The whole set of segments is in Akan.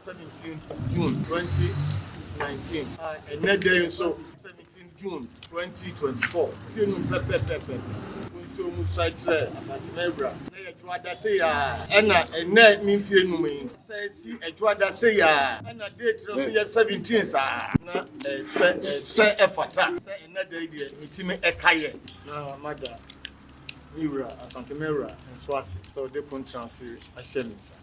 17th June 2019 a ɛnɛ dɛ nso 17 June 2024 fie no pɛpɛpɛpɛ nso mu sae kyerɛ Abatena Awura na yɛdwo adase yɛ a ɛna ɛnɛ ne mfie num yi sɛ si ɛdwo adase yɛ a ɛna date no nso yɛ 17 saa na ɛsɛ ɛsɛ ɛfata sɛ ɛnɛ dɛ deɛ metumi ɛka yɛ na mada ne wura Asantema Awura nso ase sɛ ɔde kontrase ahyɛ me nsa.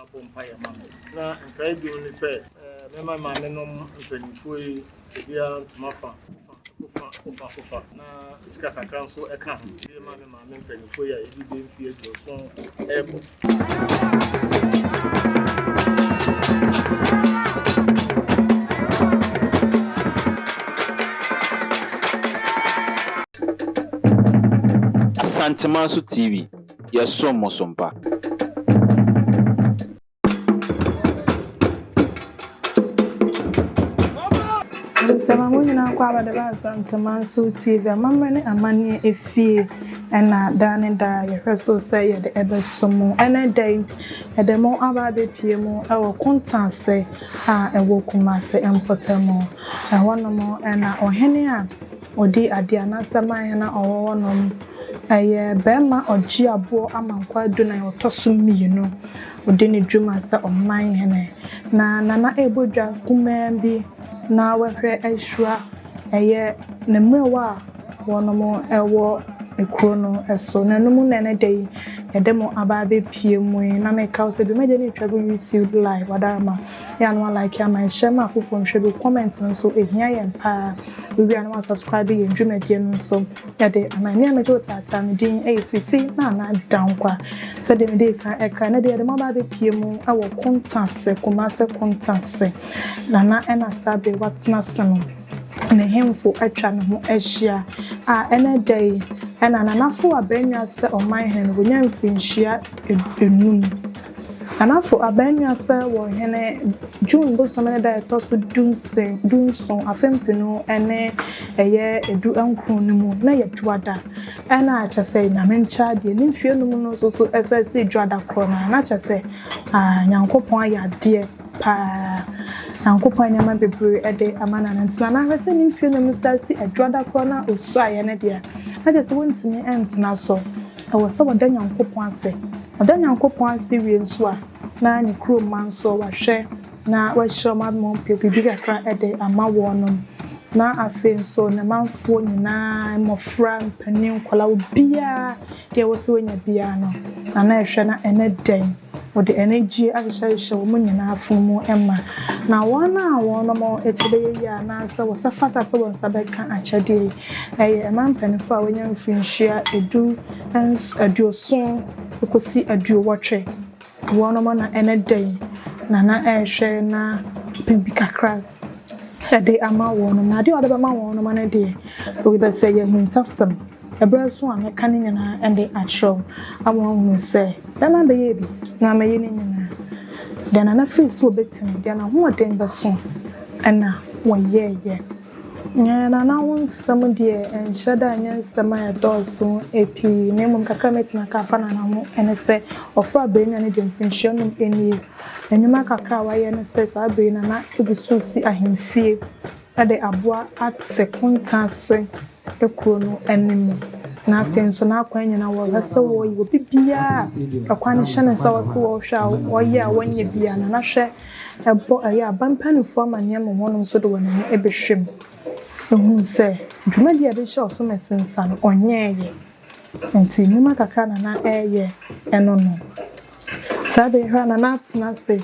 abɔ mpaeɛ ama me na nkae bio ne sɛ mɛma maame nom mpanimfoɔ yi ebiara ntoma fa kofa kofa kofa na sika kakra nso ɛka ho ebi ma me maame mpanimfoɔ yi a ebi bɛ mfi aduoso ɛɛkɔ. Santemanso TV. yɛsom mo som pa. Nsɛmma mu nyinaa kɔ abɛde ba Asanteman so TV amammerɛ ne amanneɛ efie ɛna daa ne daa yɛhwɛ so sɛ yɛde ɛbɛso mu ɛnɛ da yi ɛde mo aba abɛpie mu ɛwɔ Kontaase a ɛwɔ Kumase mpɔtamu ɛhɔnom ɛna ɔhene a Ɔdi adeɛ anaasɛ maayɛ na ɔwɔ hɔ nom. Ɛyɛ barima a ɔgye aboɔ ama nkwadu na ɔtɔ so mmienu. Ɔdi ne dwuma sɛ ɔman hene. Na Nana rebɔ dwa kumaa bi na wahwɛ ahyira. Ɛyɛ ne mmerɛwa a wɔnom wɔ kuro no so. Na ɛno mu na ɛnɛ da yi yɛde mo aba abɛpie mu yi. Na meka wo sɛ dwumadie no retwa gu YouTube live, Wadarma. Yɛ a na w'alike ama yɛn, hyɛ ma afoforɔ nhwɛ bi, wo comment no nso ɛhia yɛn paa. Wowie a na w'asubscribe yɛn dwumadie no nso de ama yɛn. Me a megye wo taataa, me din yɛ Sweetie Nana Dankwa. Sɛdeɛ mede kan ɛka, ɛnɛ deɛ yɛde mo aba abɛpie mu wɔ Kontase, Kumase Kontase. Nana ɛna saa bere watena ase no, ne hemfo atwa ne ho ahyia a ɛnɛ da yi ɛna Nanafo Abannwa sɛ ɔman hene no wɔnya mfirinhyia enum. Ghanafo abaamua sɛ wɔ hene June bosome ne da a ɛtɔ so du nson afe mpenu ne ɛyɛ edu nkron no mu na yɛ dwoada ɛna akyɛ sɛ nyame nkyɛ adeɛ ne mfie no mu no nso so ɛsɛ ɛsɛ dwoada korɔ no na kyɛ sɛ ah nyankopɔn ayɛ adeɛ paa nyankopɔn nneɛma bebree ɛde ama na ntina na ahwɛ sɛ ne mfie no mu sɛ ɛsɛ dwoada korɔ no a ɔsuaeɛ no deɛ na kyɛ sɛ wɔntumi ɛntena so Ɛwɔ sɛ ɔda Nyankopɔn ase. Ɔda Nyankopɔn ase wie nso a, na ne kurom mma nso wahwɛ na wahyira wɔn ama wɔapɛ biribi kakra de ama wɔnom. Na afei nso, ne manfoɔ nyinaa, mmɔfra, mpanin, nkwadaa, obiara, deɛ ɛwɔ sɛ wɔnya biara no, na na ɛhwɛ na ɛne dɛn. Wɔde anigyeɛ ahyehyɛhyehyɛ wɔn nyinaa afono mu ma. Na wɔn a wɔnom kyɛ bɛyɛ yie anaasɛ wɔsɛ fata sɛ wɔn nsa bɛka akyɛdeɛ yi, Ɛyɛ mmaa mpanyimfo a wɔanya mfirihyia du nso, aduoson kosi aduowɔtwe. Wɔnom a na ɛne dɛn na na ɛrehwɛ na apɛ bi kakra de ama wɔnom. Na adeɛ a wɔde bɛma wɔnom no deɛ, obi bɛ sɛ ɛyɛ ahintasɛm. Ɛberɛ nso a mɛka ne nyinaa de akyerɛ wo ama woahunu sɛ dɛn na bɛyɛɛ bi na ama yɛ ne nyinaa. Deɛ na na firi sɛ wɔbɛtumi, deɛ n'ahoɔden bɛso na wɔyɛeɛ. Yɛn anananom nsɛm deɛ ɛnhyɛ da nyɛ nsɛm a ɛdɔɔso pii, na mmom kakra a mɛtumi aka afa n'ano ho ne sɛ, ɔfaa aberanwa no deɛ mfirihyia num nie. Nnwuma kakra a wayɛ ne sɛ saa bere no na ɛgu so resi ahemfie de aboa ate konta ase. kuro no anim, na afei nso n'akwan nyinaa wɔhwɛ sɛ wɔyi obi biara a kwan no hyɛ no sɛ wɔse wɔhwɛ a wɔyɛ a wɔnyɛ biara no na hwɛ ɛbɔ ɛyɛ aba mpanimfoɔ amanneɛ ma wɔn nso de wɔn ani ɛbɛhwɛ mu ɛhunu sɛ dwumadi a ɛbɛhyɛ ɔsom asinsa no ɔnyɛɛyɛ nti nnwuma kakra na na ɛyɛ ɛno no. Saa da yi hɔ ara na na atena ase.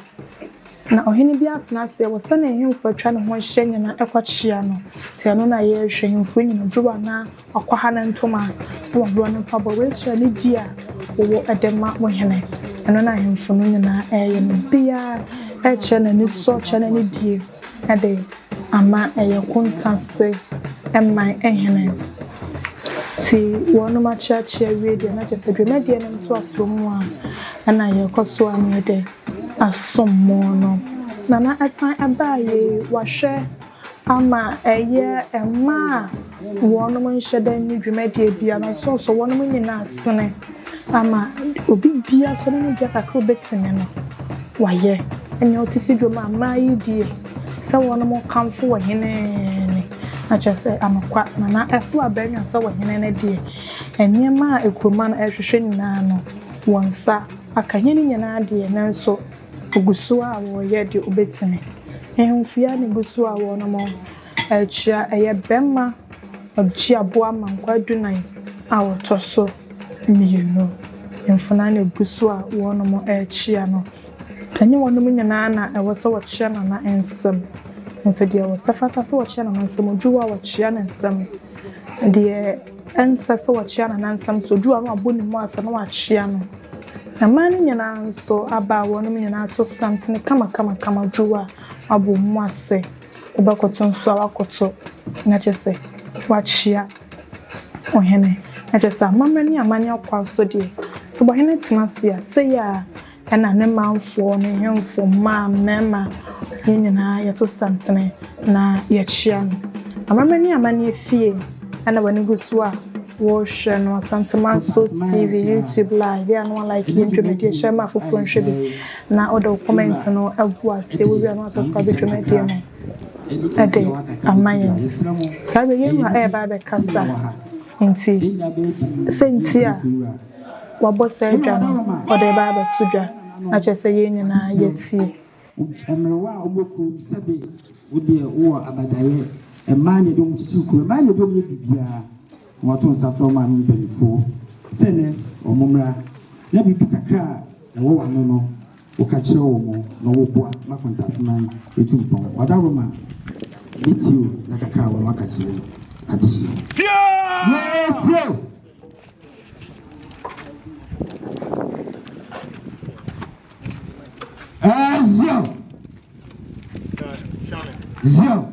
Na ɔhene biara tena ase wɔ sɛnea ahemfo atwa ne ho ahyia nyinaa kɔkyea no. Enti ɛno na yɛrehwɛ, ahemfo anya no dwow anaa wɔakwaha ne ntoma na wɔaboa no mpaboa. Wei kyerɛ nidi a wɔwɔ de ma mo hene. Ɛno na ahemfo no nyinaa reyɛ no. Obiara rekyerɛ n'anisɔ, rekyerɛ n'anidie. de ama ɛyɛ Kuntassi man hene nti wɔnom akyeakyea awie deɛ na kyɛsɛ dwumadie no ntoasoɔ mu a ɛna yɛkɔ so a na yɛde asom mo no Nana ɛsan ɛbaa yei wahwɛ ama ɛyɛ mmaa Wɔnom nhyɛ da nni dwumadie biara so so wɔnom nyina asene ama obi biara so ne bia kakra obɛtumi no wayɛ ɛnea ɔte si dwom a mmaa yi die sɛ wɔnom kamfo wɔ hene ne na kyerɛ sɛ anokwa nana ɛfo abɛnwa sɛ wɔ hene ne deɛ ɛnneɛma a ɛkuruma no ɛhwehwɛ nyinaa no wɔn nsa aka hene nyinaa deɛ nanso ogusoɔ a wɔyɛ deɛ obɛtumi ɛhemfo yi a ne gusoɔ a wɔnom Akyia, ɛyɛ bɛma ɔgyeaboa ma nkwa dunan a wɔtɔ so mmienu. Mfenaa na ɛgu so a wɔnom ɛrekyia no. Ɛnyɛ wɔnom nyinaa na ɛwɔ sɛ wɔkyia nana nsam. Nti deɛ ɛwɔ sɛ ɛfata sɛ wɔkyia nana nsam, odwowa a wɔkyia ne nsam. Deɛ ɛnsɛ sɛ wɔkyia nana nsam nso, odwowa no a wɔabɔ ne mu ase na wɔakyia no. Mmaa no nyinaa nso, abaawa nom nyinaa to santene kamakamakama odwowa a wɔabɔ wɔn mu ase. ebɔkoto nsu a wɔakoto na kyerɛ sɛ wɔakyia ɔhene. Na kyerɛ sɛ amammerɛ ne amanneɛ ɔkwa so deɛ, sɛ ɔhene tena ase a, sei ara na ne manfoɔ, ne nhemfo, mmaa, mmarima, yɛn nyinaa yɛto santene na yɛkyia no. Amammerɛ ne amanneɛ fie na w'ani gu so a worehwɛ no, Asantehene Manso TV, YouTube live. Yɛ a na woalike yɛn dwumadie, hyɛ ma afoforɔ nhwɛ bi. Na wode wo comment no agu ase wowia no asɔfo aba dwumadie no de ama yɛn saa berɛ yɛn wura ɛreba abɛkasa nti sɛ nti a wabɔ saa dwa no ɔde ɛba abɛto dwa na kyerɛ sɛ yɛn nyinaa yɛtie. Mmerewa a wɔwɔ kurom sɛbe wo deɛ wowɔ abadaeɛ mmaa na ɛde wɔn kyekyere kurom mmaa na ɛde wɔn yɛ biribiara. Wɔto nsa frɛ ɔman no mpanyimfoɔ sɛ nnɛ wɔmmra na biribi kakra a ɛwɔ wɔn ano no wɔka kyerɛ wɔn na wɔboa ma Kwantaseman atu mpɔn. Wɔada Roma ne Tiro na kakra a wɔn aka kyerɛ adesua. Yɛtie! Ezio! Zio!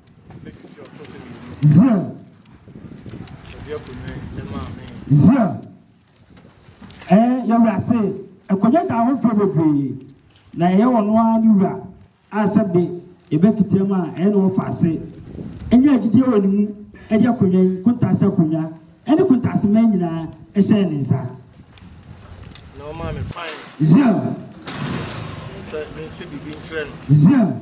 Zion. Zion. Ɛɛ yɛwura se nkonnwa da ahofoɔ bebree na ɛyɛ wɔn ara ne wura a sɛ de yɛbɛfitia mu a ɛyɛ na wɔfa ase ɛnyɛ agyidie wɔ ne mu ɛde akonnwa yi kontaase akonnwa ɛne kontaase mmaa nyinaa ɛhyɛ ne nsa. Zion. Zion.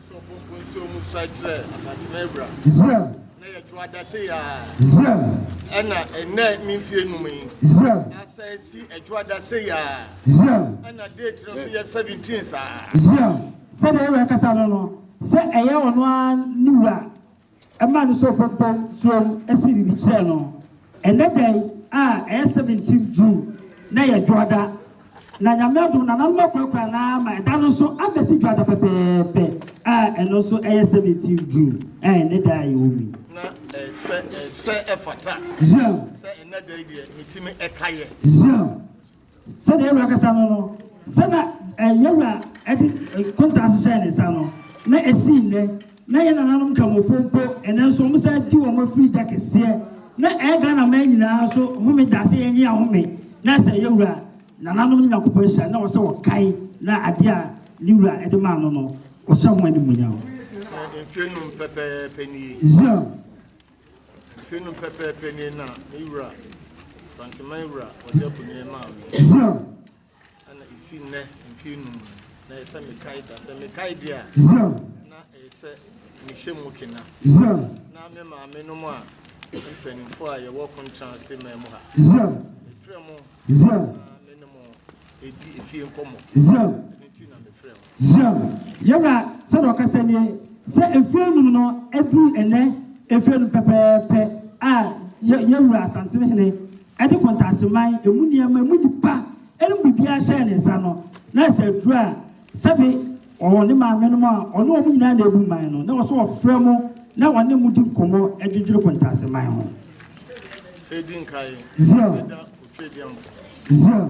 Israel. Israel. ɛna ɛnɛ ne mfie num yi. Israel. asa esi ɛdwo adase yaa. Israel. ɛna date no so yɛ seventeen saa. Israel. sɛdeɛ ɛwɔ ɛkasa no no sɛ ɛyɛ ɔno ara ne wura. Ɛmaa no sɛ ɔbɛbɔ tuam asi biribi kyerɛ no. Ɛnnɛ da yi a ɛyɛ seventeenth June na ɛyɛ Dwoada, na Nyame adom nananom akurakura no ara ma ɛda no nso abɛsi Dwoada pɛpɛɛpɛ a ɛno nso ɛyɛ seventeenth June a ɛnnɛ da a yɛwɔ mu yi. na eh, sɛ eh, sɛ ɛfata Yeah, sɛ ɛnɛ da yi deɛ metumi ɛka yɛ yeah. Sɛdeɛ Yawɛ akasa no no, sɛ na eh, Yawɛ a de eh, kontaa hyehyɛɛ ne nsa no, na ɛsii nnɛ, na yɛ nananom Kramofo mpo, ɛnɛ nso wɔn sɛ gye wɔn afiri da kɛseɛ, na ɛyɛ eh, Ghana man nyinaa nso home da sɛ yɛnye ahome, na sɛ yɛ wura nananom ne Nyankopɔn ahyira, na wɔsɛ wɔkae na adeɛ a ne wura ɛde maa no no, ɔhyɛ ho animuonyam. Zion. Mfe no pɛpɛɛpɛ nie na me wura, Santeman wura Ɔde Akonie maa me. Ɛna ɛsi nnɛ mfe num na ɛyɛ sɛ mekae da. Sɛ mekae deɛ a, na ɛyɛ sɛ mehyɛ mu kena. Na me maame nom a mpanimfoɔ a yɛwɔ Kontra ase man mu ha. Mefrɛ mo na me ne mo ɛdi efie nkɔmmɔ. Ɛno nti na mefrɛ mo. Zion, yɛn wura sɛdeɛ ɔkasa nie, sɛ mfeɛ nnum no aduru ɛnnɛ mfeɛ nnum pɛpɛɛpɛ a yɛn wura Asantene Hene ɛde Kwantaaseman ɛmu nneɛma ɛmu nnipa ɛne biribiara hyɛɛ ne nsa no na sɛ aduru a sɛbe ɔwɔ ne maame nom a ɔne wɔn nyinaa na ɛbu man no na wɔ so ɔfrɛ mo na ɔne mo di nkɔmmɔ ɛdwedwere Kwantaaseman ho Zion Zion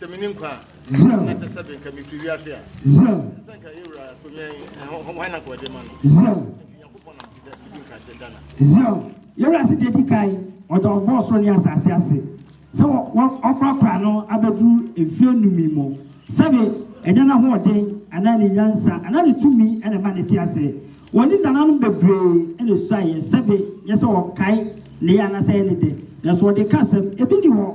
Sɛ menni nkwa a, na sɛ sɛbe nka mefiri wiase a, sɛ nka yɛ wura tumi hwan na nka ɔde ma no. Nti Nyankopɔn nam ti dɛ di nka da na. Yɛ wura se deɛ di kan ɔdɔ ɔbɔɔ soro ne asase ase sɛ wɔkɔakora no abɛduru mfeɛ numi mu sɛbe ɛnyɛ n'ahoɔden anaa ne nyansa anaa ne tumi na ɛma ne te ase wɔ ne nananom bebree na ɛsuaeɛ sɛbe nyɛ sɛ ɔkae ne yɛ anasɛ yɛ ne de nanso ɔde ka asɛm ebi ni hɔ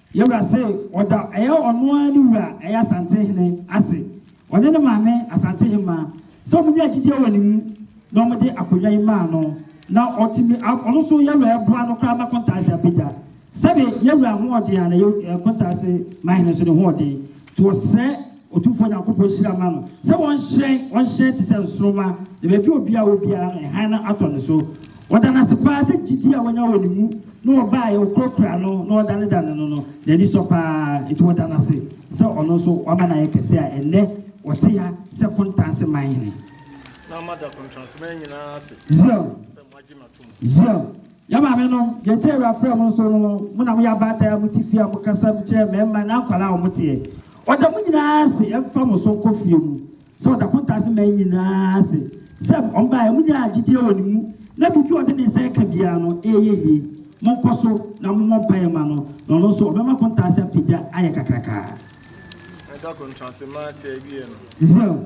Yɛwura se ɔda ɛyɛ ɔno ara ne wura ɛyɛ Asantehene ase, ɔne ne maame Asantehemmaa sɛ wɔn nyaa gyidie wɔ ne mu na wɔn de akonnwa yi maa no na ɔtumi a ɔno nso yɛwura ɛboa no koraa ma Kontaase abɛgya. Sɛbe yɛwura hoɔden a na yɛ Kontaase Manhene nso ne hoɔden. To ɔsɛɛ Otumfoɔ Nyankopɔn hyira ma no, sɛ ɔnhyerɛn, ɔnhyerɛn te sɛ nsoromma, na baabi a obiara wɔ biara no, hann no atɔ ne so. Ɔda no ase paa sɛ gyidi a wanya wɔ ne mu na ɔbaeɛ, ɔkurakura no, na ɔdanedane no no, n'ani sɔ paa. Enti ɔda no ase sɛ ɔno nso wama no ayɛ kɛse a ɛnnɛ ɔte ha sɛ Kontanse man hene. Zion, Zion. Yɛn maamenom, deɛ nti a Awurafrɛɛ mo nso no, mo na moyɛ abaatan a mote fie a mokasa kyerɛ mmarima ne akwadaa a wɔteɛ. Ɔda mo nyinaa ase mfa mo so nkɔ fie mu sɛ ɔda Pontas man nyinaa ase sɛ wɔbaeɛ. Monyaa gyidie wɔ ne mu, na biribi a ɔde ne nsa reka biara no, ɛreyɛ yie. Monkɔ so na mommɔ mpaeɛ mma no, na ɔno nso ɔbɛma Pontas apagya ayɛ kakrakaa. Israel.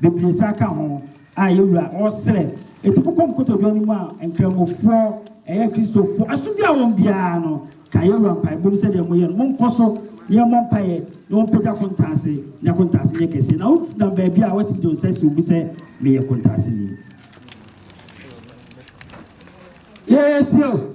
bebree nsa ka ho a yɛn Wura ɔresrɛ ɛti bokɔ mo kotodwe no mu a Nkramofoɔ ɛyɛ Kristofoɔ asomdwie a wɔn biara no ka yɛn Wura mpaebɔ mu sɛdeɛ moyɛ no monkɔ so na yɛmmɔ mpaeɛ na wɔmpagya kontaase na kontaase nyɛ kɛseɛ na wonam baabi a watumi de wo nsa si wo mu sɛ meyɛ kontaase ni yɛyɛ tio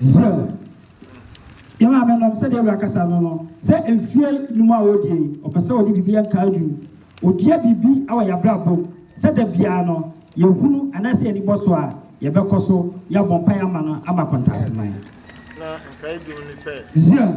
so yɛ maame nom sɛdeɛ awura kasa no no sɛ mfie no mu a wɔdie yi ɔpɛ sɛ ɔde biribi nka adu ɔdua biribi wɔ yɛabrabɔ sɛ da biara no yɛhunu anaasɛ yɛni bɔ so a yɛbɛkɔ so yɛabɔ mpaeɛ ama no ama kɔntaaseman zia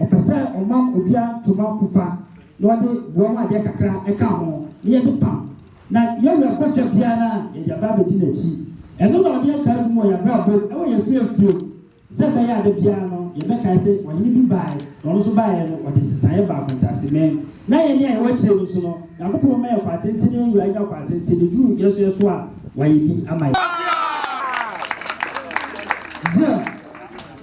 Ɔpɛ sɛ ɔma obiara ntoma fufa na ɔde boa ho adeɛ kakra ka ho na yɛde pam, na yɛn werɛ kɔ da biara no a, yɛde aba abɛdi n'akyi. Ɛno na ɔde akaa adum wɔ yɛn abrabɔ mu wɔ yɛn fiefiefie mu, sɛ ɛbɛyɛ a da biara no yɛbɛkae sɛ ɔhene bi baeɛ, na ɔno nso baeɛ no, ɔde nsesaeɛ baa akontasemɛn, na yɛn a yɛwɔ akyire no nso no, Nyankopɔn bɛma yɛn kwantenten, na yɛn wura anya kwantenten, na ɛduru yɛn nso yɛn so a, wayɛ bi ama yɛn. Zion.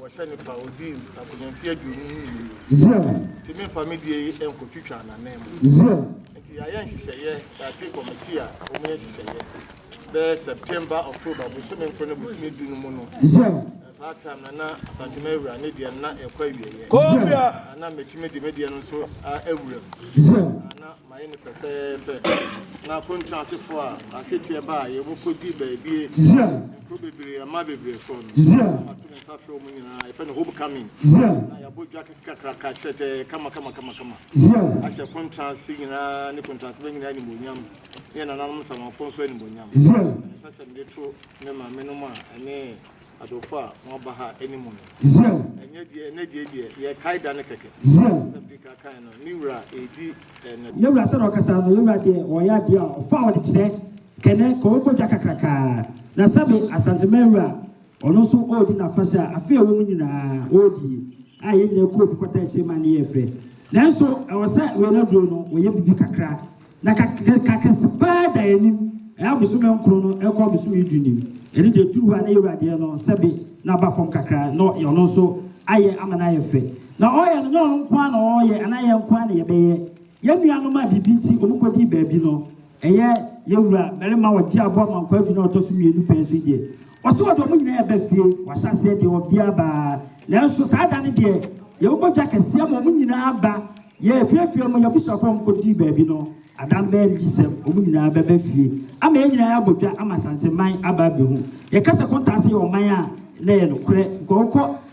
Wɔhyɛ ne fa odi akonya mfe aduonu ne mmienu. Zion. Nti memfa me deɛ yi nkɔtwitwa n'ananmu. Zion. Nti yɛayɛ nhyehyɛeɛ yɛate kɔmiti a wɔyɛ nhyehyɛeɛ bɛyɛ September October bosome nkoro ne bosome du no mu no. Zion. Na saa time na na Asante Mawura ne deɛ na ɛkɔ awieɛ. Zion. Na na mɛtumi de me deɛ no nso awura mu. Zion. Mayɛ no pɛpɛɛpɛ. Na apontow asefo a ahweteɛ baa yɛn mu kodii baabie, nkuro bebree, ɛmma bebree so no, na mato me nsa afrɛ wɔn nyinaa, yɛfrɛ no home coming, na yɛabɔ dwa kakraka, hyɛtɛɛ, kamakamakamakama, ahyɛ apontow ase nyinaa ne apontow ase ba nyinaa animuonyam, ne yɛn nananom nsamanfo nso animuonyam. Na mepɛ sɛ mede to me maamenom a ɛne Adɔfo a wɔaba ha anim no, ɛnyɛ deɛ ɛnnɛ deɛ deɛ yɛkae da no kɛkɛ. Na Pika kae no, ne wura ɛredi ɛnnɛ. Yɛn wura sɛdeɛ ɔkasa no, yɛn wura deɛ ɔyɛ adeɛ a ɔfa a ɔde kyerɛ kɛnɛ ka ɔbɔ dwa kakrakaa. Na sɛbe Asantema wura ɔno nso ɔredi n'afahyɛ a afe a ɛwɔ mu nyinaa ɔredi a yɛn nyinaa kɔɔ bi kɔtaa akyire ma ne yɛ fɛ. Nanso ɛwɔ sɛ wei no aduro no wɔyɛ bibi kakra. Na ka ne ka kɛse paa da anim, ɛyɛ abosome nkron no ɛkɔ abosome du nim. Ɛne deɛ ɛturu hɔ a na yɛwura adeɛ no sɛbe na aba fam kakra na ɔno nso ayɛ ama no ayɛ fɛ. Na ɔyɛ no nyɛ ɔno nko ara na ɔyɛ anaa yɛn nko ara na yɛbɛyɛ. Yɛn nuanom a biribi nti wɔn kɔdii baabi no, ɛyɛ yɛwura barima a ɔgye aboa ma nkwa du no a ɔtɔ so mmienu pɛn so yi deɛ, Ɔse ɔde ɔmo nyinaa ɛba fie, wahyɛ aseɛ deɛ ɔbia baa, nanso saa da no deɛ yɛbobɔ dwa kɛseɛ ma ɔmo nyinaa ba, yɛɛfiafia ɔmo, yabusuafoɔ a ɔmo kɔ dii baabi no, Adam bɛyɛ ne gyesɛm, ɔmo nyinaa bɛba fie ama yɛn nyinaa yɛabɔ dwa ama Asante man aba abehu, yɛka sɛ Kontaa ase yɛ ɔman a na ɛyɛ nokorɛ, nka ɔkɔ.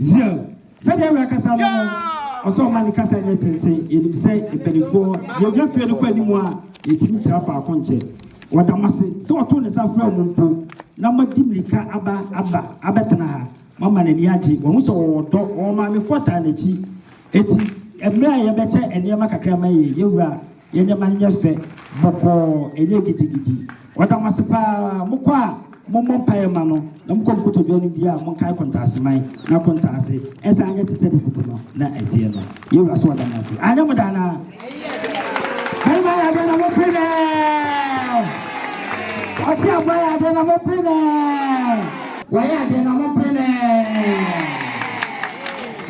Yiaw, sɛdeɛ awura kasa no no, ɔsɛ ɔma ne kasa nyɛ tenten. Yɛnim sɛ mpanimfoɔ, yɛnya fie no kɔ anim a, yɛtumi tra faako nkyɛ. Wɔda mo ase sɛ wɔto ne nsa frɛ mo mpo na moadi mmirika aba aba abɛtena ha. Moama n'ani agye. Wɔhu sɛ wɔwɔ dɔ. Wɔn maamefoɔ taa n'akyi. Enti, mmerɛ a yɛbɛkyɛ nneɛma kakra ma yɛn, yɛn wura, Yɛ nneɛma no nyɛ fɛ, bɔkɔɔ, ɛnyɛ gidigidi. Wɔda mo ase paa. Mokɔ a, mommɔ mpaeɛ mma no, na mokɔ nkotodwe anim biara a, monkae kontaaseman na kontaase. Ɛnsan nyɛ te sɛ de kuku no na ɛteɛ no. Yɛn Wura so wɔda mo ase. Anyɛ mo dɛ anaa? Barima yɛ adeɛ na mopere no ɛ! Ɔteaboa yɛ adeɛ na mopere no ɛ! Wɔyɛ adeɛ na mopere no ɛ!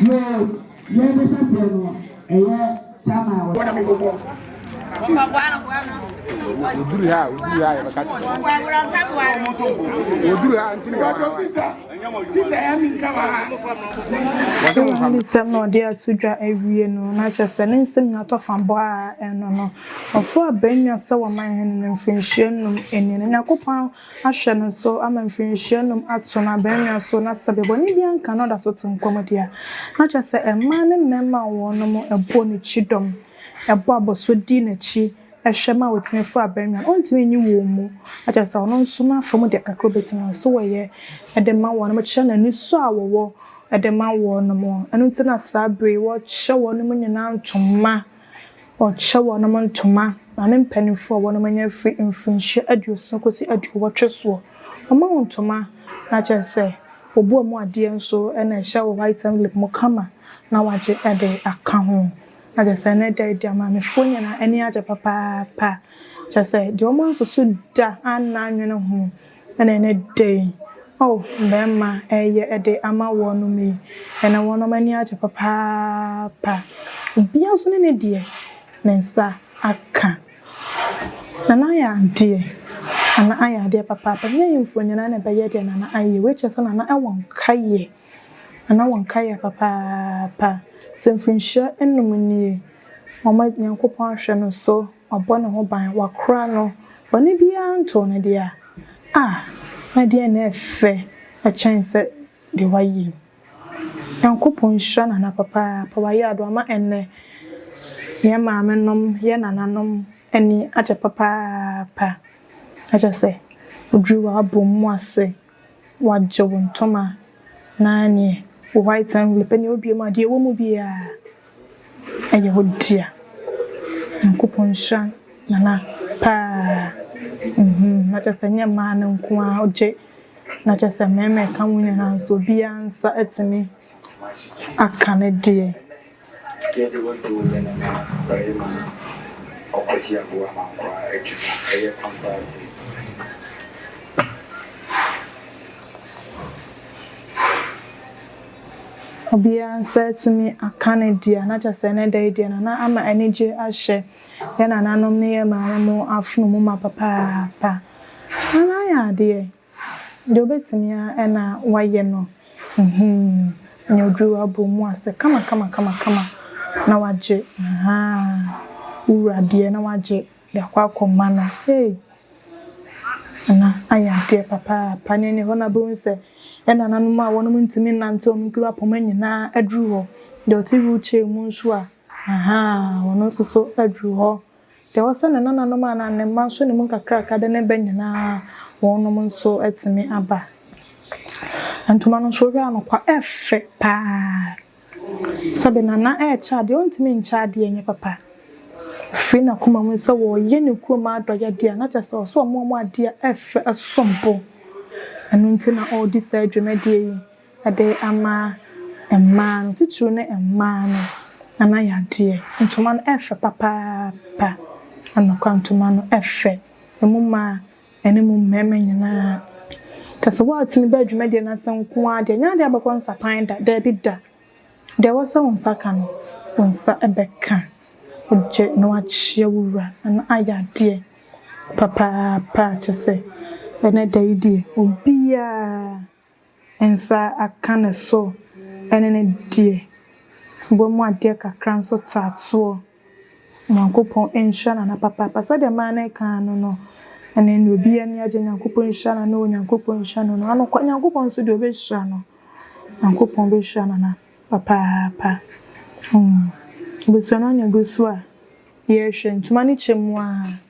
Yoo! Yɛn ne hyɛ seɛ no ɛyɛ chairman a wɔyɛ Oduru ha oduru ha yɛ bɛka ti oduru ha ntini wɔ ha sisa sisa yɛ mi nka wɔ ha. Ne nsɛm na ɔde ato dwa awie no na kyerɛ sɛ ne nsɛm nyinaa tɔ fa bɔ a ɛno no ɔforo abɛnnwa sɛ wɔman hene no mfirinhyia nnum ani no Nyankopɔn ahyɛ no so ama mfirinhyia nnum ato no abannwa so na sɛ bɔne biara nka na ɔda so te nkwa mu de a, na kyerɛ sɛ mmaa ne mmarima a wɔnom bɔ no kyidɔm, bɔ abɔso di n'akyi hwɛ ma ɔtumi fa abannwa no, ɔntumi nyi wɔn mu, na kyerɛ sɛ ɔno nso n'afa mu deɛ kakra a ɔbɛtumi no nso ɔyɛ de ma wɔnom kyerɛ n'anisɔ a wɔwɔ de ma wɔnom. Ɛno nti na saa berɛ yi wɔhyɛ wɔnom nyinaa ntoma. Wɔkyɛ wɔnom ntoma, maame mpaninfoɔ a wɔnom anya firi mfirinhyia aduosia kɔsi aduowɔtwe soɔ, wɔma wɔn ntoma na kyerɛ sɛ wɔbu wɔn adeɛ nso na ɛhyɛ wɔ white envelope mu kama na wɔagye de aka ho. Na kyerɛ sɛ ɛnɛ da yi deɛ maamefoɔ nyinaa ani agye papaapa, kyerɛ sɛ deɛ wɔn ansusu da anna annwene ho. Ɛna ɛnnɛ da yi, O mmarima, ɛyɛ de ama wɔnom yi, ɛna wɔnom ani agye papaapa, obiara nso ne ne deɛ ne nsa aka. Nana ayɛ adeɛ, Nana ayɛ adeɛ papaapa, ɛnyɛ ahemfo nyinaa na ɛbɛyɛ deɛ Nana ayɛ, wei kyerɛ sɛ Nana wɔ nkaeɛ, Nana wɔ nkaeɛ papaapa, sɛ mfirinhyia nnum nie, wɔn, Nyankopɔn ahwɛ no so. Wabɔ ne ho ban, wakora no, bɔne biara ntoo no deɛ a, ah, na deɛn na ɛfɛ kyɛn sɛ deɛ wayɛ yi? Nyankopɔn nhyira Nana papaapa, wayɛ ade, wama ɛnnɛ yɛn maamenom, yɛn nananom ani agye papaapa, na kyerɛ sɛ, ɔduru w'abɔmu ase Wɔagye wo ntoma na neɛ wo white envelope neɛ wobue mu a deɛ ɛwɔ mu biara ɛyɛ wo dea. Nyankopɔn nhyira Nana paa uhmm na kyerɛ sɛ ɛnyɛ mmaa no nko ara ɔgye na kyerɛ sɛ mmarima ɛka ho nyinaa nso obiara nsa atumi aka ne deɛ. Yɛ de wo dow yɛ nana barima no ɔkɔ gye aboa ma nkwaa adwuma ɛyɛ pampasing. Obiaa nsa atumi aka ne dea na kyɛsɛ ɛnɛ da yi deɛ nana ama anigye ahyɛ yɛ nananom ne yɛ maame mo afono mu ma papaapa. Nana ayɛ adeɛ. Deɛ ɔbɛtumi ara na wayɛ no humm ne oduru abɔ mu ase kama kama kama kama na wagye ahaa wura deɛ na wagye de akɔ akɔ ma no hey Nana ayɛ adeɛ papaapa ne ɛne hɔ na bɛhu sɛ ɛnananom a wɔnom ntumi nnante wɔn nkiri apoma nyinaa aduru hɔ deɛ ɔte wheel chair mu nso a ahaa ɔno nso so aduru hɔ Deɛ ɔsɛ ne nananom anaa ne mma nso ne mu nkakraka de ne ba nyina ara wɔnom nso atumi aba. Ntoma no nso wohwɛ a no kwa ɛfɛ paa sɛbe nana ɛkyɛ adeɛ ɔntumi nkyɛ adeɛ nyɛ papa ɔfiri nakoma mu sɛ wɔyɛ ne kurom adɔyɛdeɛ a na kyɛ sɛ ɔsɛ ɔmo ɔmo adeɛ ɛfɛ ɛsombo ɛno nti na ɔdi saa dwumadie yi. De ama mmaa no, titiriw ne mmaa no nana yadeɛ. Ntoma no fɛ papaapa. Anokwa ntoma no fɛ. Emu mmaa ne emu mmarima nyinaa. Kyerɛ sɛ woatumi ba dwumadie no ase nko ara deɛ, ɛnyɛ adeɛ a wobɛkɔ nsapan da. Daabi da. Deɛ ɛwɔ sɛ wo nsa ka no, wo nsa bɛka. Wogye na woakyea wo wura na ayɛ adeɛ papaapa. Kyerɛ sɛ, ɛnnɛ da yi deɛ, obiara. nsa aka ne so ne no deɛ, bɔ mu adeɛ kakra nso taa toɔ. Nyankopɔn nhyira nana papaapa. Sɛdeɛ maa no ɛka no no, ɛnɛ neɛ obi ani agye Nyankopɔn nhyira nana oo, Nyankopɔn nhyira nana oo. Anokwa Nyankopɔn nso deɛ ɔbɛhyira no. Nyankopɔn bɛhyira nana papaapa. Abusua no anya gu so a, yɛhwɛ ntoma no kyɛ mu aa.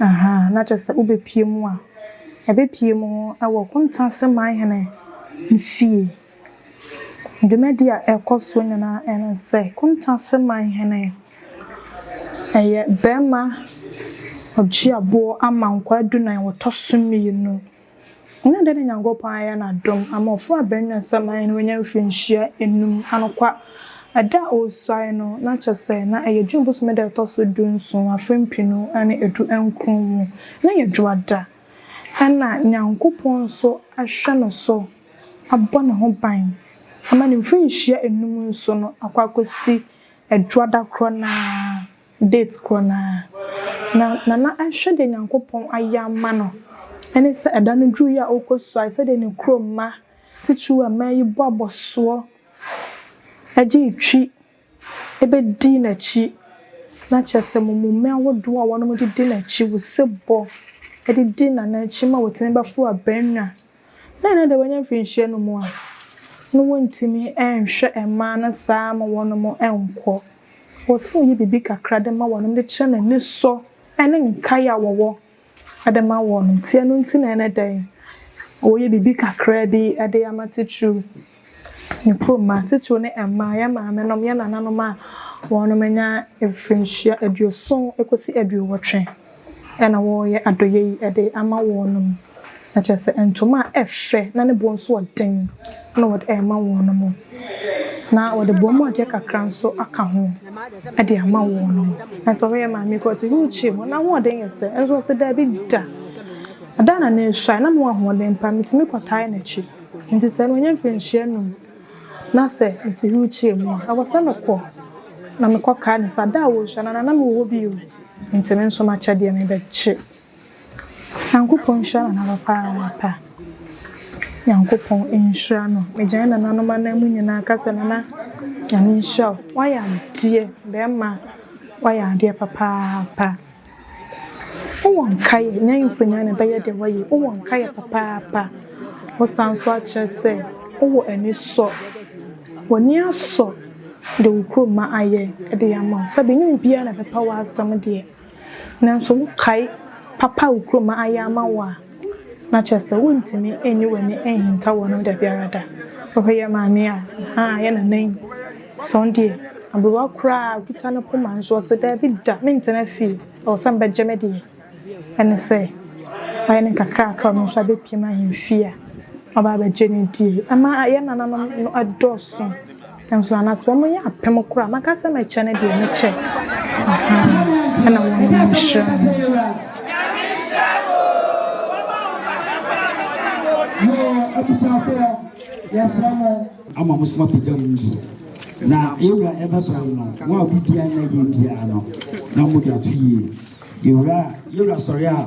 Ahaa, na kyerɛ sɛ wobɛpue mu a, yɛbɛpue mu wɔ Kuntanse Manhene no fie. Dwumadie a ɛrekɔ soɔ nyinaa ne sɛ, Kuntanse Manhene, ɛyɛ barima ɔgye aboɔ ama nkwaa dunan, wɔtɔ so mmienu. Nna dɛn na Nyankopɔn ayɛ n'adom ama ɔfo a Benua Samae no wanya mfrenhyia enum anokwa da a osuae no, na kyerɛ sɛ na ɛyɛ June bosome da a ɛtɔ so du nson, afe mpenu ne edu nkron mu, na ɛyɛ Dwoada. Nna Nyankopɔn nso ahwɛ no so abɔ ne ho ban ama ne mfrenhyia enum nso no akɔ akosi Dwoada korɔ no ara. Date korɔ no ara na Nana ahwɛ deɛ Nyankopɔn ayɛ ama no ne sɛ ɛda no duruiɛ a ɔkɔsuae sɛdeɛ ne kuro mma titiriw a mmaa yi bɔ abɔsoɔ gyee twi bɛdii n'akyi na kyerɛ sɛ mummume ahodoɔ a wɔnom de di n'akyi, wusebɔ de di Nana akyi ma wɔtumi bɛforo abannwa Dɛn na ɛde wɔanya mfirinhyia no mu a na wontumi nhwɛ mmaa no saa ma wɔnom nkɔ? Wɔse wɔyɛ biribi kakra de ma wɔnom de kyerɛ n'anisɔ ne nkae a wɔwɔ de ma wɔnom. Nti ɛno nti na ɛne dɛn? Wɔyɛ biribi kakraa bi de ama titiriw. Mpo mmaa titiriw ne mmaa, yɛn maamenom, yɛn nananom a wɔanya mfirihyia aduoson kosi aduowɔtwe na wɔreyɛ adɔyɛ yi de ama wɔnom, na kyerɛ sɛ ntoma a ɛfɛ na ne bo nso yɛ den na wɔde rema wɔnom, na wɔde bɔn mu adeɛ kakra nso aka ho de ama wɔnom. Nanso ɔhwɛ yɛn maame yi koraa ɔte wheel chair mu, n'ahoɔden yɛ sɛ, nanso ɔse daabi da, da na n'asuae na mewɔ ahoɔden pa, metumi kɔtae n'akyi. Ntsi sɛ ɔnnyɛ mfrenhyia enum na sɛ ntsiho kyea mu a, ɔwɔ sɛ mokɔ na mekɔkaa no sa da a woruhyia no anaa na mowɔ hɔ bio ntsi me nso m'akyɛdeɛ no bɛgye. Nyankopɔn nhyira Nana papaapa. Nyankopɔn nhyira no. Megyae nananom anan mu nyinaa ka sɛ Nana Nyame nhyira wo. Woayɛ adeɛ bɛɛma a woayɛ adeɛ papaapa. Wowɔ nkaeɛ? N'ahemfo nyinaa na ɛbɛyɛ deɛ wɔyɛ. Wowɔ nkaeɛ papaapa? Wosan nso akyerɛ sɛ wowɔ anisɔ. W'ani asɔ deɛ wo kuromma ayɛ de ama wo. Sɛbe ɛnyɛ obiara na ɛbɛpa w'asɛm deɛ, nanso wokae papa a wo kuromma ayɛ ama wo a. Na kyerɛ sɛ wontumi nyi w'ani nhinta wɔn ho da biara da. Wohwɛ yɛn maame a, ha a yɛ nana yi, sɛ ɔno deɛ, aberewa koraa a, ɔkita ne poma nso ɔse, Dabi da, mentena fie, ɛwɔ sɛ mebɛgye me deɛ. Ɛne sɛ, wayɛ ne nkakraaka a ɔno nso abɛpiem ahemfie a waba abɛgye ne deɛ. Ɛma yɛn nananom no dɔɔso Nanso ana sɛ wɔyɛ apem koraa a, mɛka sɛ mɛkyɛ no deɛ mɛkyɛ. Ɛna wɔn nyinaa nhyira no. ama mo soma pagya mu nso na yɛwura ɛbɛsɔre no mo a obi biara na yɛ biara no na mo de ato yie yɛwura yɛwura sɔre a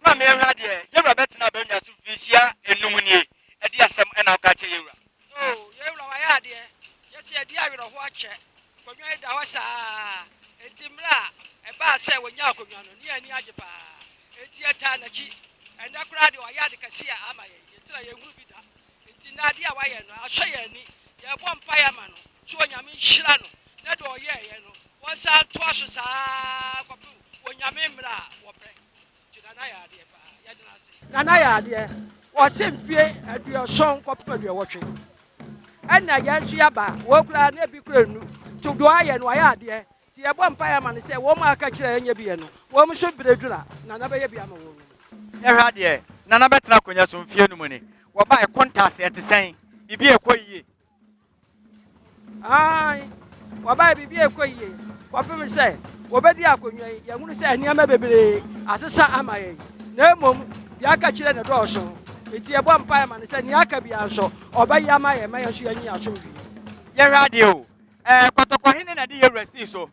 Bra ma yɛnhwɛ adeɛ. Yewura bɛtena abannwa so mfirihyia nnum nie, ɛdeɛ asɛm na woka akyerɛ yewura? Oh, yewura wayɛ adeɛ. Yɛse yɛde awerɛhoɔ akyɛ. Nkonnwa yi da hɔ saa ara. Enti mmerɛ a ɛbaa sɛ wɔnyaa akonnwa no, ne yɛn ani agye pa ara. Enti yɛtaa n'akyi. Ɛnnɛ koraa deɛ wayɛ ade kɛseɛ a ama yɛn, yɛtiri a yɛnhunu bi da. Enti nnɛ adeɛ a wayɛ no, asɔ yɛn ani. Yɛrebɔ mpaeɛ ama no sɛ Onyame nhyira no na deɛ ɔyɛeɛ no, wɔnsan ntoa so saa ara kɔpem Onyame mmerɛ a wɔpɛ. Nana yɛ adeɛ wɔse mfie aduɔsɔn kɔpem aduɔwɔtwe ɛna yɛn nso yɛaba wɔn koraa na ebi kura nu to do ayɛ no ayɛ adeɛ ti yɛbɔ mpa yɛ ama no sɛ wɔn a aka kyerɛ ɛnyɛ bi yɛ no wɔn nso bere dura nana bɛyɛ bi ama wɔn. Yɛhwɛ adeɛ nana bɛtena akonnwa so mfie no mu ni wɔbae kontas ɛte sɛn biribi ɛkɔ yie. Aane, wɔbaeɛ biribi rekɔ yie kɔpem sɛ wɔbɛdi akonnwa yi. Yɛhunu sɛ nneɛma bebree asesa ama yɛn, na mmom deɛ aka kyerɛ ne dɔɔso. Enti yɛbɔ mpaeɛ ma no sɛ nea aka biara nso ɔbɛyɛ ama yɛn ma yɛn nso yɛanya asomdwoeɛ. Yɛhwɛ adeɛ o, ɛɛ kɔtɔkɔhene na ɛde yɛn wura sii so.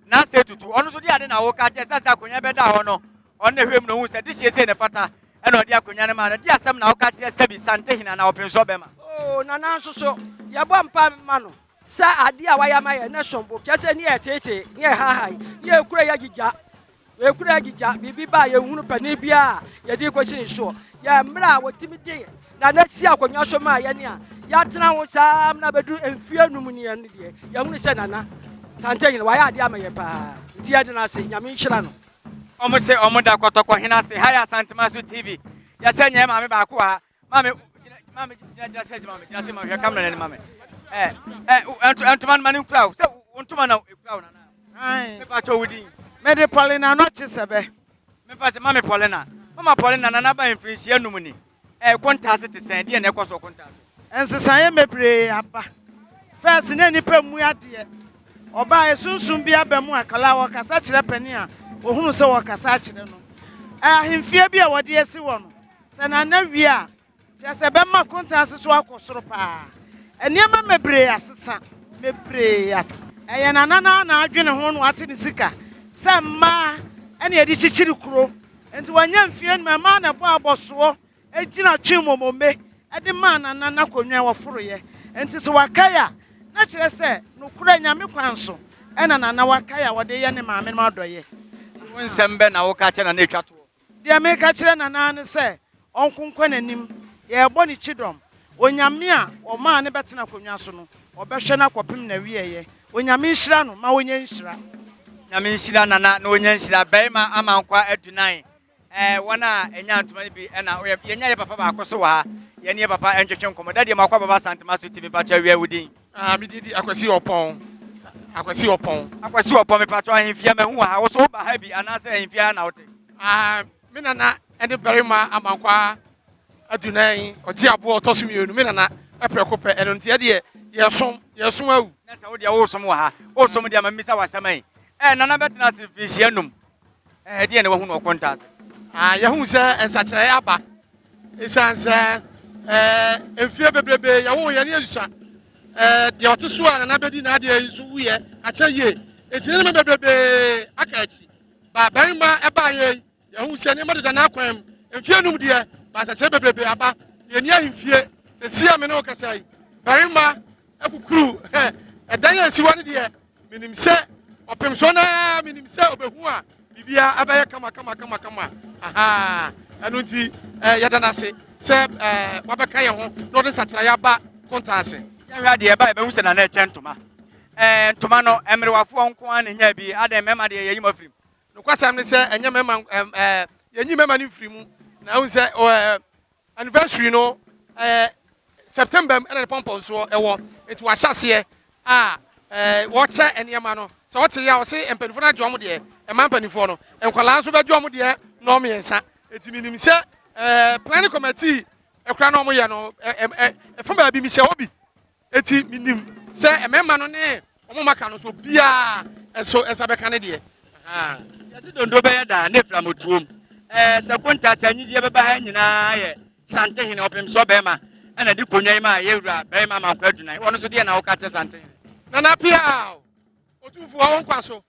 na sɛ tutu ɔno nso de ade na woka kyerɛ sɛ sɛ akonnwa bɛda hɔ no ɔno na hwɛ mu na ohun sɛ dehyeɛ sei na ɛfata ɛna ɔde akonnwa no maa no de asɛm na woka kyerɛ sɛbi santehene anaa ɔpensɔ bɛma oo na na nso so yɛbɔ mpa ma no sɛ adeɛ a wayɛ ama yɛn ne som bo kyerɛ sɛ ne yɛteetee ne yɛhaahae ne yɛkura yɛagyigya Yɛkura agyigya, biribi ba a yɛnhunu panin biara a yɛde rekɔsi ne soɔ. Yɛn mmerɛ a wɔtumi de nana si akonnwa so maa yɛn a yɛatena ho saa ara na bɛduru mfeɛ anum ni yɛn no deɛ, yɛhunu sɛ nana Santehene wayɛ adeɛ ama yɛn paa nti yɛde no ase, Nyame nhyira no. Ɔmo se ɔmo da kɔtɔkɔhene ase ha yɛ Asantemaso TV yɛsɛ nyɛ maame baako wɔ ha Maame, gyina, maame, gyina, gyina sɛ, maame, gyina sɛ, maame, hwɛ kamera n'anim, maame. Ɛ, ɛ, ɛ, ntoma no ma ne nkura o, sɛ wo ntoma na ekura o nana. Ayi. Mepa kyɛ wo din. Mede Paulina Anɔkye Sɛbɛ. Mepa sɛ, maame Paulina, mama Paulina nana aba he mfirinhyia num ni. Ɛ, Okontaa ase te sɛn, deɛ na ɛkɔ so Okontaa ase? Nsesaeɛ bebree aba. Fɛs na nnipa mmu adeɛ. Ɔbaa he sunsum bi aba mu a kala ɔkasa kyerɛ panin a ohunu sɛ ɔkasa akyerɛ no. Ɛ, ahemfie bi a wɔde asi hɔ no, Sɛ Nana wie a, kyerɛ sɛ bɛma akonta ase so akɔ soro paa. Nneɛma mebree asesa, mebree asesa. Ɛyɛ Nana no ara na adwene ho na wate ne sika sɛ mmaa na yɛde kyekyere kuro. Nti wanya mfeɛ anum a, mmaa na ɛbɔɔ abɔsoɔ gyina twee mmomombe de maa Nana n'akonnwa a wɔforoeɛ. Nti sɛ wakae a, na kyerɛ sɛ nokorɛ Nyame kwan so na Nana wakae a ɔde reyɛ ne maame no adɔeɛ. Wo nsɛm bɛn na woka kyerɛ Nana a ɛtwa toɔ? Deɛ meka kyerɛ Nana ara ne sɛ ɔnkonkɔn anim, yɛrebɔ no kyidɔm. Onyame a ɔmaa no bɛtena akonnwa so no, ɔbɛhwɛ no akɔpem n'awieɛ. Onyame nhyira no ma ɔnya nhyira. Nyame nhyira Nana na ɔnya nhyira. Barima ama nkwa adunan. Ɛɛ wɔn a ɛnyaa ntoma no bi ɛna woyɛ. Yɛnya yɛ papa baako nso wɔ ha. Yɛne yɛ papa ntwetwe nkɔmmɔ. Daddy Amoako Ababa Asantemaso TV, mpakyɛ wia wo din. Ah, me din di Akwasi Ɔpɔn. Akwasi Ɔpɔn. Akwasi Ɔpɔn, me pato ahemfia mahu wɔ ha. Wo so wo ba ha bi anaasɛ ahemfia ha na wote? Ah, me nana ɛne barima amankwa adunan ɔgye aboɔ ɔtɔ so mmienu. Me nana ɛprɛko pɛ ɛno nti ɛdeɛ yɛsom yɛsom awu. Na sɛ wo deɛ wosom wɔ ha, wosom deɛ ma mmisa wɔ asɛm yi. Eh, nana bɛtena ase mfinhyia num. Ɛdeɛn na wahu no ɔkontaa ase? Ah, yɛhu sɛ nsakyeraeɛ aba. Ɛsiane sɛ eh, mfeɛ bebrebe yɛwoo yɛne Yesus a eh, deɛ ɔte so a nana bɛdi n'adeɛ yi nso wuyɛ akyɛ yie. Enti nneɛma bebrebe aka akyi. Ba barima ɛbaa yɛn, yɛhu sɛ nneɛma deda n'akwan mu. Mfeɛ num deɛ, ba nsakyeraeɛ bebrebe aba. Yɛni ahemfie. Sɛsi a me ne wo kasa yi, barima akukuru. Ɛdan a ɛsi hɔ no deɛ, Menim sɛ ɔpem so na menim sɛ ɔbɛhu a biribiara abɛyɛ kama kama kama kama ahaa ɛno nti eh, yɛda no ase sɛ eh, wabɛka yɛn ho na ɔde nsatraeɛ aba konta ase yɛhwɛ adeɛ ɛba yɛbɛhu sɛ nana ɛkyɛ ntoma eh, ntoma no mmerewafoɔ nko a na ɛnya bi adɛn mmarima deɛ yɛyi ma firim nokwasɛm ne sɛ ɛnyɛ mmarima eh, yɛnyi mmarima no mfiri mu na wohu sɛ Anniversary no ɛyɛ September mu ɛna ne pɔmpɔnsoɔ ɛwɔ nti wahyɛ aseɛ a wɔkyɛ nneɛma no sɛ ɔte yɛ a ɔse mpanimfoɔ no agye wɔn deɛ ɛma mpanimfoɔ no nkwadaa nso bɛgye wɔn deɛ nɔɔ mmiɛnsa nti menim sɛ planning committee ɛkora na wɔyɛ no ɛfa baabi mehyɛ hɔ bi Eti minim sɛ mmarima no ne wɔn maka no so biara nso nsa bɛka ne deɛ. Yɛsi dondo bɛyɛ daa ne fira mo tuom. Ɛɛ sɛ konta sɛ anyizie bɛba ha nyinaa yɛ Santehene ɔpemsɔ bɛrima ɛna de konwa yi maa yɛwura bɛrima Amankwa Adunan. Wɔn nso deɛ na woka kyɛ Santehene. Nana Piaw, Otumfoɔ wo nkwa so.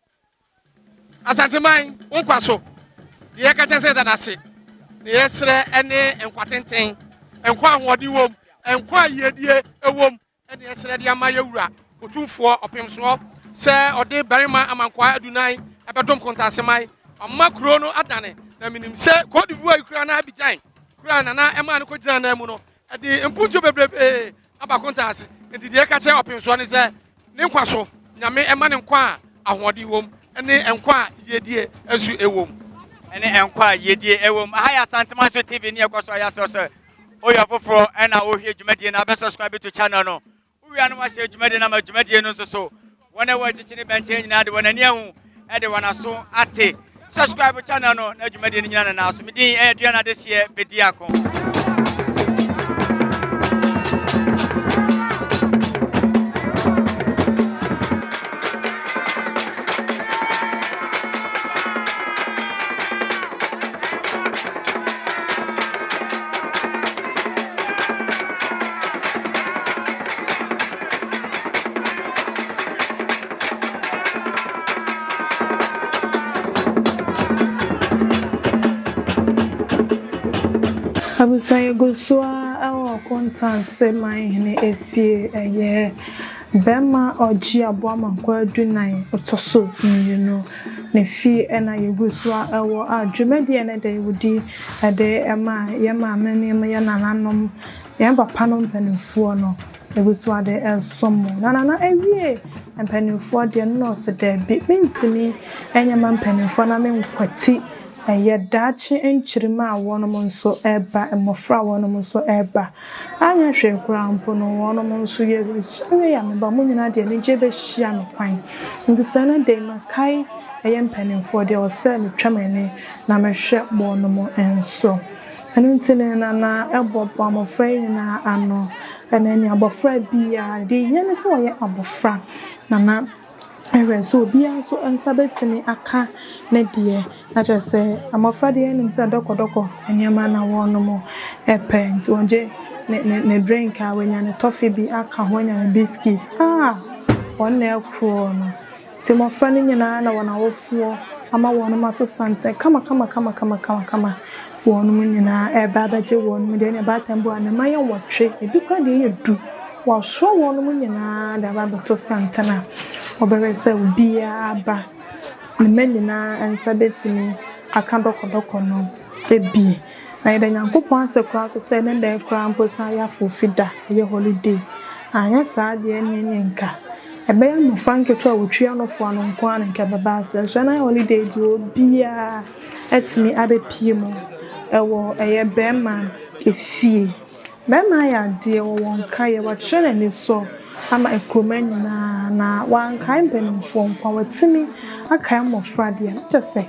Asanteman, wo nkwa so. Deɛ yɛka kyɛ sɛ yɛda no ase, na yɛsrɛ ne nkwa tenten, nkwa a ahoɔden wom, nkwa a yiedie wom, ɛne yɛsrɛ de ama yɛ wura Otumfoɔ Ɔpemsoɔ sɛ ɔde barima amankwaa adunan ɛbɛdom Kontaseman, ɔma kuro no adane, na menim sɛ Cote d'Ivoire yi koraa na Abidjan koraa na na ɛmaa no kɔgyinaa nan mu no, ɛde mpuntuo bebrebee aba akontaa ase. Enti deɛ ɛka kyerɛ ɔpensoɔ ne sɛ ne nkwa so Nyame ɛma no nkwa a ahoɔden wom ne nkwa a yiedie nso ɛwom. Ɛne nkwa a yiedie ɛwom. Aha yɛ Asantemanso TV ne ɛkɔ so ayɛ asɛ sɛ woyɛ ɔfoforɔ ɛna wohwɛ dwumadie no a bɛ subscribe to channel no. Wowie a na wahyɛ dwumadie no ama dwumadie no nso so. Wɔn a wɔrekyekye ne bɛnkyɛn nyinaa de wɔn ani ahu de wɔn aso ate. Subscribe channel no na dwumadie no nyina nanaa so. Me din ɛyɛ Duane Adehyeɛ Bediako. Abusua yi gu so ara wɔ Kontanse Manhene Efie, ɛyɛ bɛma ɔgye aboa mankwa dunan ɔtɔ so mmienu ne fie na yɛgu so ara wɔ a dwumadie no de wodi de ma yɛn maame nom, yɛn nananom, yɛn papa nom mpaninfoɔ no. Ewusoade nso mo. Na Nana awie mpanimfoɔ deɛ no na ɔse daabi mentumi nyɛ ma mpanimfoɔ na menkwati ɛyɛ daakye nkyirimma a wɔnom nso reba, mmɔfra a wɔnom nso reba. Anyɛ hwee koraa mpo no wɔnom nso yɛresɔre a meba mo nyinaa de anigyeɛ bɛhyia me kwan. Nti sɛ ɛnɛ da yi makae ɛyɛ mpanimfoɔ deɛ ɔsɛ metwa m'ani na mehwɛ wɔnom nso. Ɛno nti ne na na ɛbɔbɔ amɔfra yi nyinaa ano. Ɛna ɛne abɔfra biara, deɛ ɛhia ne sɛ ɔyɛ abɔfra, na na ɛhwɛ sɛ obiara nso nsa bɛtumi aka ne deɛ. Na kyerɛ sɛ, mmɔfra deɛ yɛnim sɛ dɔkɔdɔkɔ nneɛma na wɔnom pɛ, nti ɔgye ne ne ne drink a, wanya ne tɔfe bi aka ho, wanya ne biscuit a, wɔn na ɛkorɔ no. Enti mmofra no nyinaa na wɔn awofoɔ ama wɔnom ato santene kamakamakama, wɔnom nyinaa reba abɛgye wɔnom deɛ ɛne abaatan bu a ne mma yɛ nwɔtwe, ebi koraa deɛ yɛ du, wɔasoa wɔnom nyinaa de aba abɛto santene a wɔbɛhwɛ sɛ obiara ba ne mma nyinaa nsa bɛtumi aka dɔkɔdɔkɔ no bi. Na yɛda Nyankopɔn ase koraa nso sɛ ne nnɛ koraa mpo san yɛ afoofi da, ɛyɛ holiday. Anyɛ saa deɛ ɛnneɛ nneɛ nka ɛbɛyɛ mmɔfra nketewa a wɔtwi anofo ano nko ara na nka ɛbɛba aseɛ. Nanso ɛnɛ ayɛ holiday deɛ obiara atumi abɛpue mu wɔ ɛyɛ bɛɛma efie. Mɛma ayɛ adeɛ wɔ wɔn nkaeɛ, wɔakyerɛ n'anisɔ ama nkuruma nyina ara, na wɔankae mpanimfoɔ nko a, wɔatumi akae mmɔfra deɛ, na kyerɛ sɛ,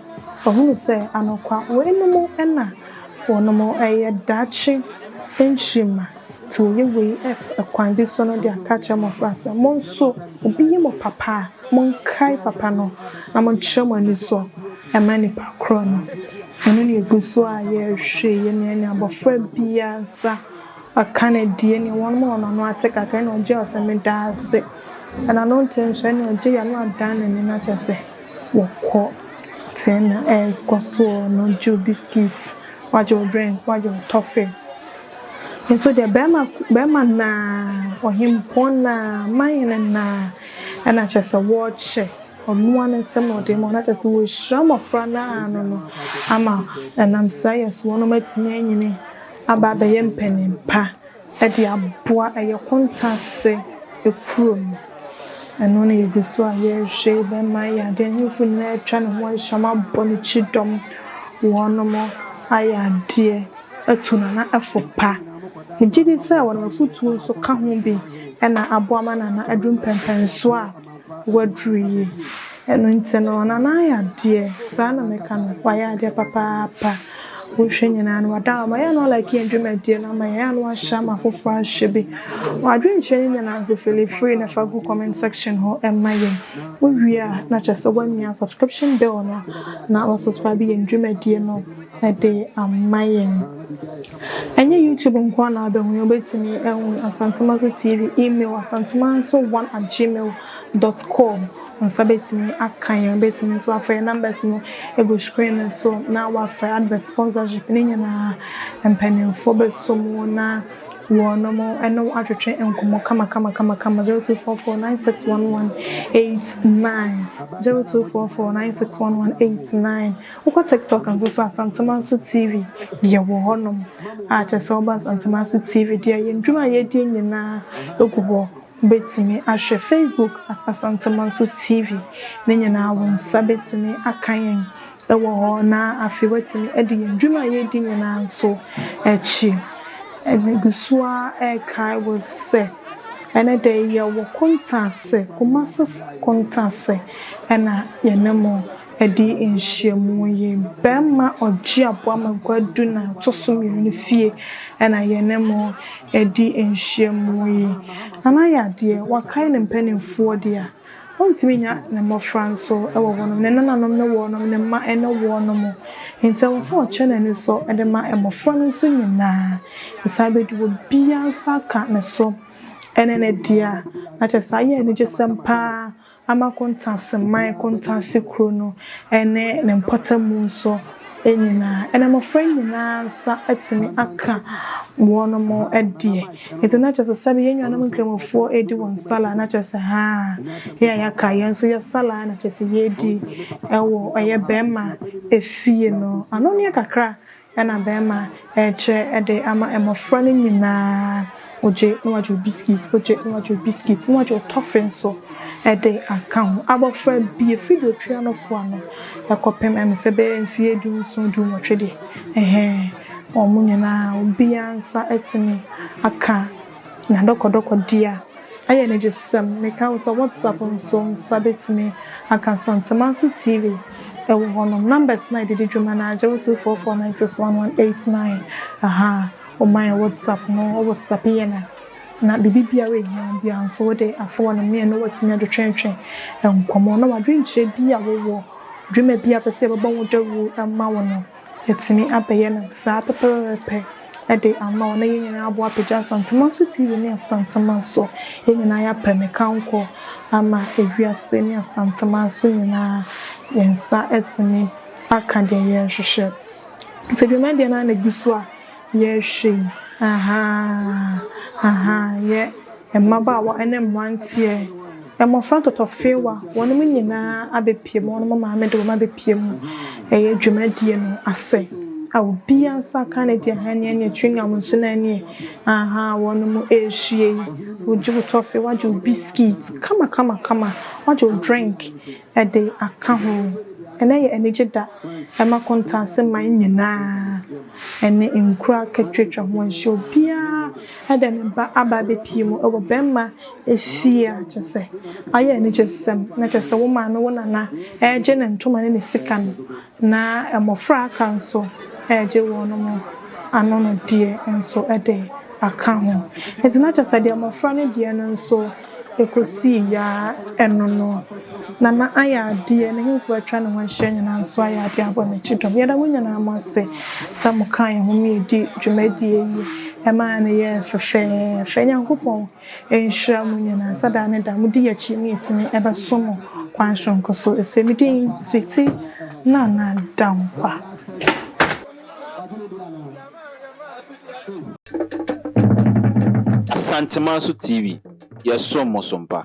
wɔahunu sɛ, anokwa, weinom na wɔnom yɛ daakye nkyirimma, nti wɔyɛ wei kwan bi so no de aka akyerɛ mmɔfra sɛ, mo nso, obi yɛ mo papa a, monkae papa no, na monkyerɛ mo anisɔ mma nnipa korɔ no. Ɛno na egu so a yɛrehwɛ yi nea ne abɔfra biara nsa aka no adie ne wɔn a wɔn ano ate kakra ɛna ɔgye ɔsɛ meda ase ɛna no nte nso ɛna ɔgye yɛ no adan n'ani no akyɛ sɛ wɔkɔ te ɛna ɛkɔ soɔ no gye o biscuit wagye o drink wagye o tɔfe nso deɛ bɛrima bɛrima naa ɔhempɔn naa man hene naa ɛna kyɛ sɛ wɔkyɛ Mmoa no nsam na ɔde ma wɔn, na kyerɛ sɛ wɔrehyira mmɔfra no ara no no ama ɛnam saa yɛ so wɔnom atumi anyini aba abɛyɛ mpanin pa de aboa ɛyɛ Kontase kuro no. Ɛno na yɛgu so a yɛrehwɛ yi bɛma ayɛ adeɛ. Ahemfo nyinaa atwa ne ho ahyia, wɔabɔ ne kyidɔm, wɔnom ayɛ adeɛ atu Nana ɛfo pa. Megye di sɛ wɔnom afotuo nso ka ho bi na aboa ma Nana adu mpɛmpɛnsoɔ a. Waduru yi. Ɛno nti no, ɔno no ayɛ adeɛ. Saa na mɛka no. Wayɛ adeɛ papaapa. Wohwɛ nyinaa no, wada ama. Yɛ a na ɔlaki yɛn dwumadie no ama yɛn. Yɛ a na wahyɛ ama afoforɔ ahwɛ bi. W'adwenkyerɛ no nyinaa nso, fili free na fa gu comment section hɔ ma yɛn. Wowie a, na kyerɛ sɛ woamia subscription bell no, na woasubscribe yɛn dwumadie no. de ama yɛn. Ɛnyɛ YouTube nko ara na wobɛhu yɛn, wobɛtumi ahu Asantuma so TV, email asantemanso one at gmail dot com. Wo nsa bɛtumi aka yɛn, wobɛtumi nso afrɛ yɛn numbers no gu screen no so na wafrɛ advert sponsorship ne nyinaa. Mpanimfoɔ bɛsɔ mu na wɔnom ɛne wo atwetwe nkɔmmɔ kama kama kama kama 0244 961189 0244 961189 Wokɔ TikTok nso so a Asantemaso TV yɛwɔ hɔ nom a kyerɛ sɛ woba Asantemaso TV deɛ yɛn dwuma a yɛdi nyinaa ɛgu hɔ wobɛtumi ahwɛ Facebook at Asantemaso TV ne nyinaa wo nsa bɛtumi aka yɛn ɛwɔ hɔ na afei woatumi ɛde yɛn dwuma a yɛdi nyinaa nso akyi ɛne gu so a ɛkae wo sɛ ɛne dɛ yɛwɔ kontaase Kumasis kontaase ɛna yɛne mo. Ɛdi nhyiamu yi bɛma ɔgye aboa ma gua du na ɛto so mmienu no fie na yɛne mo ɛdi nhyiamu yi anaa yɛ adeɛ wakae ne mpaninfoɔ deɛ a ɔntumi nya ne mmɔfra nso wɔ hɔ nom ne nananom ne wɔ nom ne mma ne wɔ nom nti ɛwɔ sɛ ɔkyɛ n'ani so de ma mmɔfra no nso nyinaa sɛ saa bɛdu wɔ biara nsa ka ne so ɛne ne deɛ a na kyɛ saa yɛ anigyesɛm paa Ama Kontaseman Kontase kuro no ne ne mpɔtamu nso nyinaa, na mmɔfra nyinaa nsa atumi aka wɔnom deɛ. Nti na kyerɛ sɛ sɛbe yɛn nuanom Nkramofoɔ redi wɔn Salah na kyerɛ sɛ haa, yɛn a yɛaka yɛn nso yɛ Salah na kyerɛ sɛ yɛredi wɔ ɛyɛ bɛɛma efie no ano neɛ kakra Ɛna bɛɛma ɛɛkyerɛ de ama mmɔfra no nyinaa ogye na wagye obiskit ogye na wagye obiskit na wagye otɔfe nso ɛde aka ho abɔfra bi efiri de otwi ano foa no ɛkɔpem ɛmi sɛ bɛyɛ mfie du nson du nwɔtwe deɛ ɛhɛɛ wɔn nyinaa obiara nsa ɛtumi aka. Na dɔkɔdɔkɔ di a, ɛyɛ anigyesɛm. Meka wo sɛ WhatsApp nso wo nsa betumi aka. Asantema nso TV wɔ hɔnom. Numbers no a yɛde di dwuma no ara, 0244961189. Ahaa, wɔma yɛn WhatsApp no, wo WhatsApp yɛn a, na biribi biara a ehia wo biara nso, wode afa hɔnom ne yɛne wo atumi adwetwentwe nkɔmmɔ na w'adwenkyerɛ bi a wowɔ, dwuma bi a wopɛ sɛ yɛbɛbɔ ho dawuru ma wo no. Yɛatumi abɛyɛ no saa pɛpɛɛpɛ de ama wo na yɛn nyinaa abɔ apagya Asantemanso TV ne Asantemanso. Yɛn nyinaa yɛapɛ ne kankɔ ama ewiase ne Asantemanso nyinaa. Yɛn nsa atumi aka deɛ yɛrehwehwɛ. Sɛ dwumadie no ara na ɛgu so a, Yɛ hwee, ahaa, ahaa, yɛ mmabaawa ne mmeranteɛ, mmɔfra ntɔtɔfewa, wɔnom nyinaa abɛpue mu, wɔnom maame de wɔn abɛpue mu, ɛyɛ dwumadie no ase, a obiara nsa aka ne deɛ, ahaa, nea neɛ, chewing gum nso na neɛ, ahaa, wɔnom ɛrehyia yi, wogye wo tɔfe, wagye wo biscuit, kama, kama, kama, wagye wo drink. de aka ho. Ɛnnɛ yɛ anigye da ma Kontase man nyinaa ne nkuro a atwatwa ho ahyia. Obiara de ne ba aba abɛpue mu wɔ bɛmma fie a kyerɛ sɛ ayɛ anigyesɛm. Na kyerɛ sɛ wo maame, wo nana regye ne ntoma ne ne sika no, na mmɔfra a aka nso regye wɔn anonnedeɛ nso de aka ho. Enti na kyerɛ sɛ deɛ mmɔfra no deɛ no nso Ɛkɔsii Yaa ɛno no, Nana ayɛ adeɛ, n'ahemfo atwa ne ho ahyia nyinaa nso ayɛ adeɛ abɔ n'akyi dɔm. Yɛda mo nyinaa mo ase sɛ mo kaa yɛn ho ma yɛdi dwumadie yi, ɛmaa no yɛɛ fɛfɛɛfɛ. Nyankopɔn nhyira mo nyinaa sɛ daa ne daa mo di yɛn akyi ma yɛtumi bɛso mo kwan soronko so. Ɛsɛ me din Sweety Nana Dankwa. Asanteman so TV, yɛsom mo so mpa.